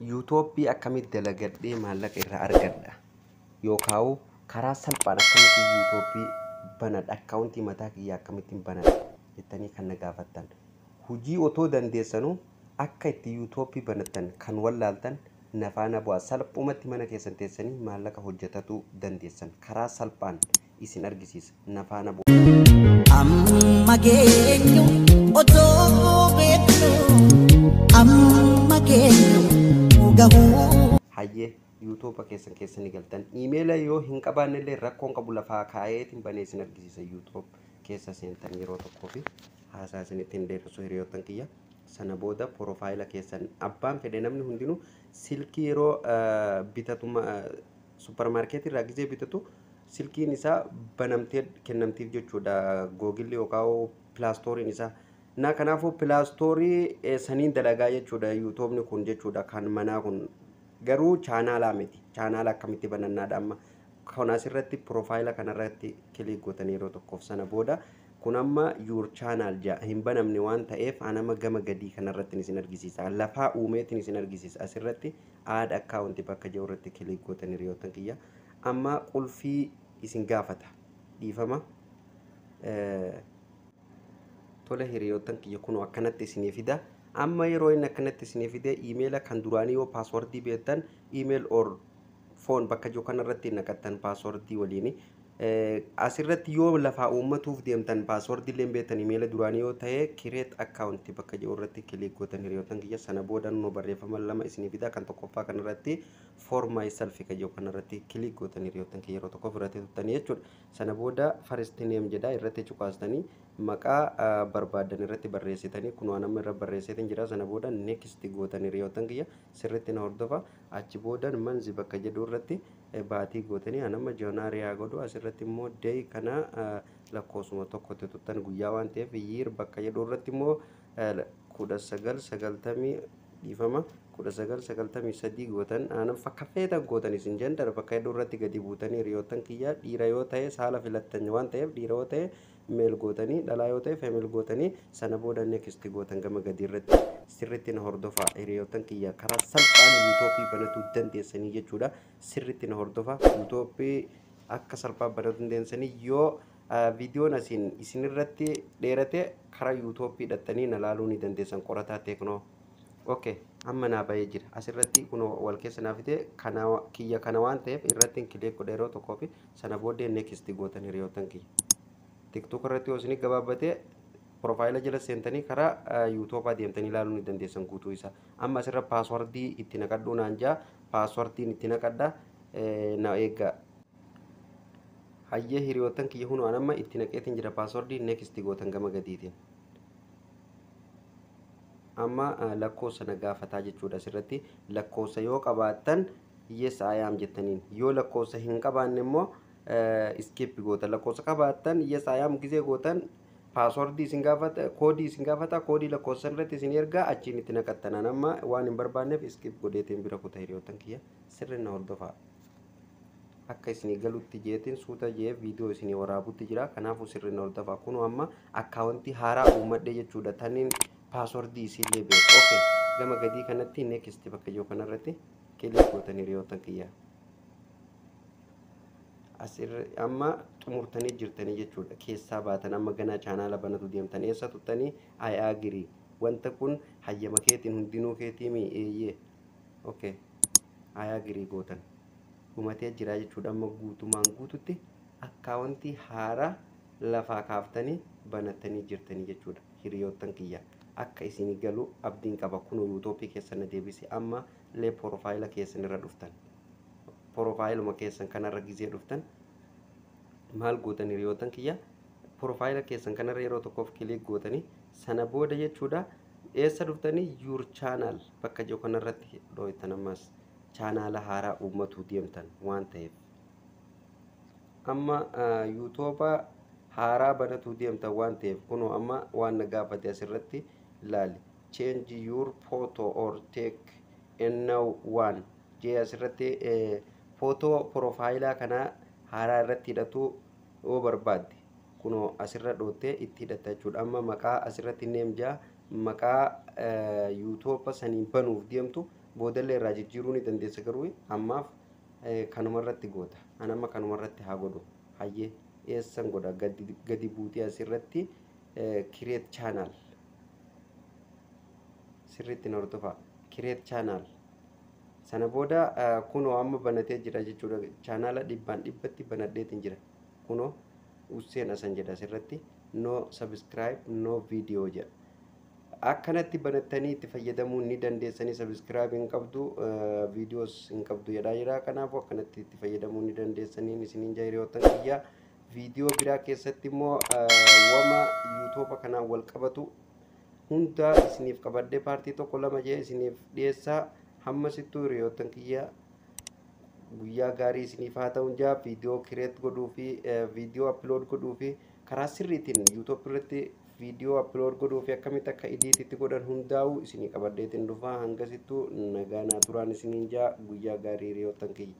Yuutoopii akkamitti dalagadhee maallaqa irraa argadha yookaan karaa salphaan akkamitti yuutoopii banadha akkaawuntii mataa kiyyaa akkamittiin banadha jettanii kan na gaafattan hujii otoo dandeessanuu akka itti yuutoopii banattan kan wallaaltan na faana bu'aa salphumatti mana keessan teessanii maallaqa hojjetatuu dandeessan karaa salphaan isin argisiisa. Na faana bu'a. Amma geenyu otoo beeknu amma geenyu gahuu. Hayyee yuutuuba keessan keessa ni galtan. Iimeela yoo hin qabaanne illee rakkoon qabu lafaa kaa'eetiin banee isin argisiisa yuutuub keessa seentan yeroo tokkoo fi haasaa isinitti hin dheeressu hiriyoottan kiyya. Sana booda porofaayila keessan abbaan fedhe namni hundinuu silkii yeroo eh, bitatu ma- eh, supparmaarkeetii irraa gizee bitatu silkiin isaa banamtee kennamtiif jechuudha googilli yookaan pilaastooriin isaa. Naa kanaafuu pilaastoorii eh, saniin dalagaa jechuudha yuutoobni kun jechuudha kan manaa kun garuu chaanaalaa miti chaanaala akkamitti banannaadha amma kun asirratti piroofaayila kanarratti kiliik gootanii yeroo tokkoof sana booda kun amma yuur chaanaal ja'a hin banamne waan ta'eef anama gama gadii kanarratti isin argisiisa lafaa uumeetiin isin argisiisa asirratti aad akkaawunti bakka jiru irratti kiliik gootanii hiriyoottan kiyya ammaa qulfii isin gaafata dhiifama tole hiriyoottan kiyya kunoo akkanatti isinii fida amma yeroo inni akkanatti isinii fide iimeela kan duraanii yoo paaswordii beektan iimeel or foon bakka jiru kanarratti naqattan paaswordii waliini asirratti yoo lafaa uummatuuf deemtan paaswordii illee beektan iimeela duraanii yoo ta'e kireet akkaawunti bakka jiru irratti kiliik gootan hiriyoottan kiyya sana booda noo barreeffama lama isinii fida kan tokkoffaa kanarratti for myself kan jedhu kanarratti click gootanii hiriyoottan kee yeroo tokkoof irratti tuttanii jechuudha. Sana booda first name jedha irratti cuqaastanii maqaa ah, barbaaddan irratti barreessitanii kunoo an amma irra barreesseetiin jira sana booda next gootanii hiriyoottan kiyya sirriitti na hordofa achi boodan manzi bakka jedhu irratti eh, baatii gootanii an amma joonaari haa godhu asirratti immoo day kana ah, lakkoofsuma tokkotti tuttan guyyaa waan ta'eef year bakka jedhu irratti immoo 1990 dhiifama 1993 gootan aanan fakka feetan gootan isin jandar bakka hedduu irratti gadi buutanii hiriyoottan kiyyaa dhiira yoo ta'e saala filattan waan ta'eef dhiira yoo ta'e meel gootanii dhalaa yoo ta'e femil gootanii sana booda next gootan gama gadii irratti sirritti na hordofaa hiriyoottan kiyyaa karaa salphaan yuutoopii banatuu dandeessanii jechuudha sirritti na hordofaa yuutoopii akka salphaa banatuu dandeessanii yoo Viidiyoon asiin isin irratti dheerate karaa yuutoopii dhattanii na laaluu ni dandeessan qorataa teeknoo. Ok amma naa bahee jira asirratti kunoo wal keessa naa fide kana kiyya kana waan ta'eef irratti hin kileek godha yeroo tokkoo fi sana booddee next gootan hiriyoottan kiyya. Tiktok irratti yoo isin gabaabbatee profaayila jala seentanii karaa yuutoopaa deemtanii ilaaluu ni dandeessan guutuu isaa. Amma asirra paaswardii itti naqadhuu naan jaa paaswardiin itti naqadha na eeggaa. hayyee hiriyoottan kiyya kunoo an amma itti naqeetiin jira paaswordii next gootan gama gadiitiin amma eh, lakkoofsa na gaafataa jechuudha asirratti lakkoofsa yoo qabaattan yes I am jettaniin yoo lakkoofsa hin qabaanne immoo eh, skip gootan lakkoofsa qabaattan yes I am gizee gootan paaswordii isin gaafata koodii isin gaafata koodii lakkoofsa irratti isin ergaa achiin itti naqattanaan amma waan hin barbaanneef skip godheetiin bira kuta hiriyoottan kiyya sirri na hordofaa akka isinii galutti jeetiin suuta jee viidiyoo isinii waraabutti jira kanaafuu sirriin hordofa kunoo amma akkaawuntii haaraa uummadhe jechuudha taniin paaswordii isiillee beeku okay gama gadii kanatti next bakka jiru kanarratti kilik gootan hiriyoota kiyya asirra amma xumurtanii jirtanii jechuudha keessaa baatan amma ganaa chaanaala banatu deemtan eessa tuttanii ayaagirii wanta kun hayyama keetiin hundinuu keetiimii eeyyee ok ayaa girii gootan dhumatee jiraa jechuudha amma guutumaan guututti akkaawwantii haaraa lafaa kaaftanii banattanii jirtanii jechuudha hiriyoottan kiyya akka isinii galuu abdiin qaba kunuu yuutoopii keessan na deebise amma lee porofaayila keessan irra dhuftan porofaayiluma keessan kanarra gizee dhuftan maal gootan hiriyoottan kiyya Profile keessan kanarra yeroo tokkoof click gootanii sana booda jechuudha eessa dhuftanii your channel bakka jiru kanarratti dhooytan ammas chaanaala haaraa uummatuu deemtan waan ta'eef amma yuutuuba haaraa banatuu deemtan waan ta'eef kunoo amma waan na gaafate asirratti ilaali change your photo or take a new one jee asirratti footoo profaayilaa kanaa haaraa irratti hidhatuu Yoo barbaadde kunoo asirra dhoottee itti hidhatta jechuudha. Amma maqaa asirratti neem jaa maqaa yuutoopa saniin banuuf deemtu boodallee irraa jijjiiruu ni dandeessa garuu ammaaf kanuma irratti goota. An amma kanuma irratti haa godhu. Hayyee eessan godha gadi buutee asirratti kireet chaanaal sirriitti na hordofaa kireet chaanaal. Sana booda kunoo amma banatee jira jechuudha. Chaanaala dhibbaan dhibbatti banadheetiin jira. Kunoo Usseen Asan jedha asirratti no subscribe no video jedha. Akkanatti banattanii itti fayyadamuu ni dandeessanii subscribe hin qabdu videos hin qabdu jedhaa jira. Kanaafuu akkanatti itti fayyadamuu ni dandeessanii isiniin jaa hiriyoottan kiyyaa. Viidiyoo biraa keessatti immoo wama yuutuuba kanaan wal qabatu hundaa isiniif qabadhee paartii tokko lama jee isiniif dhiyeessaa hamma sittuu hiriyoottan kiyya guyyaa gaarii isiniif haa ta'uun jaa viidiyoo kireet godhuu fi viidiyoo appilood godhuu fi karaa sirriitiin yuutuub irratti viidiyoo appilood godhuu fi akkamitti akka idiititti godhan hundaa'u isinii qabadheetiin dhufaa hanga sittuu nagaa naa turaan isiniin jaa guyyaa gaarii hiriyoottan kiyya.